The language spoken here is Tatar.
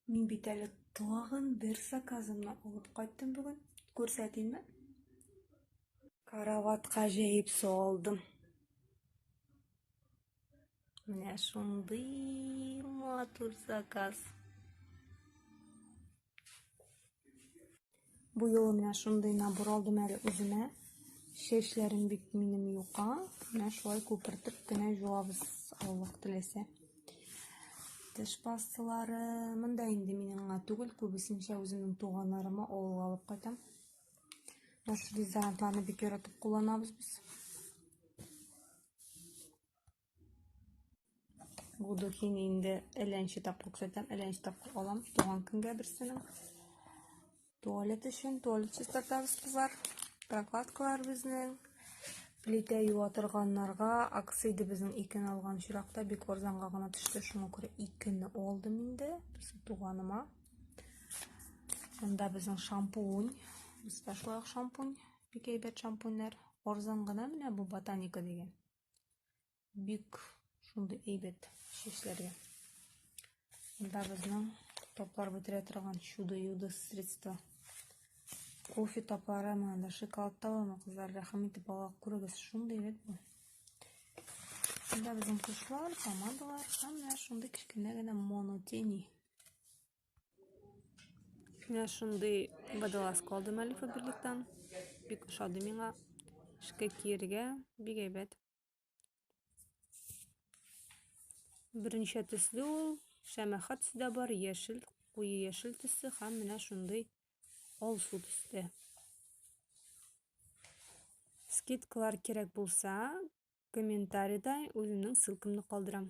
Мин бит әле тагын бер заказымны алып кайттым бүген. Күрсәтимме? Караватка җәеп салдым. Менә шундый матур заказ. Бу юлы менә шундый набор алдым әле үземә. Чәчләрем бик минем юка. Менә шулай күпертеп кенә җуабыз, Аллаһ теләсә. Теш пасталары монда инде минем гына түгел, күбесенчә үземнең туганнарыма авылга алып кайтам. Наш дезодорантларны бик яратып кулланабыз без. Буду хин инде әләнче тапкыр күрсәтәм, әләнче тапкыр алам туган көнгә берсенең. Туалет өчен туалет чистартабыз кызлар. Прокладкалар безнең. Плитә юа торганнарга акцияда безнең икене алган чиракта бик арзанга гына төште. Шуңа күрә икене алдым инде. Безнең туганыма. Монда безнең шампунь. Бездә шулай шампунь. Бик әйбәт шампуньнар. Арзан гына менә бу ботаника дигән. бик шундый әйбәт чәчләргә. Монда безнең таплар бетерә торган чудо-юдо средство. Кофе таплары, менә да шоколад табамы, кызлар, рәхим итеп ала күрегез, шундый әйбәт бу. Монда безнең кошлар, помадалар һәм менә шундый кечкенә генә монотени. Менә шундый водолаз калдым әле Фаберликтан. Бик ошады миңа. Эшкә киергә бик әйбәт. Берничә төсле ул, шәмәхә төсе дә бар, яшел, куе яшел төсе һәм менә шундый алсу төстә. Скидкалар кирәк булса, комментарийда үземнең ссылкамны калдырам.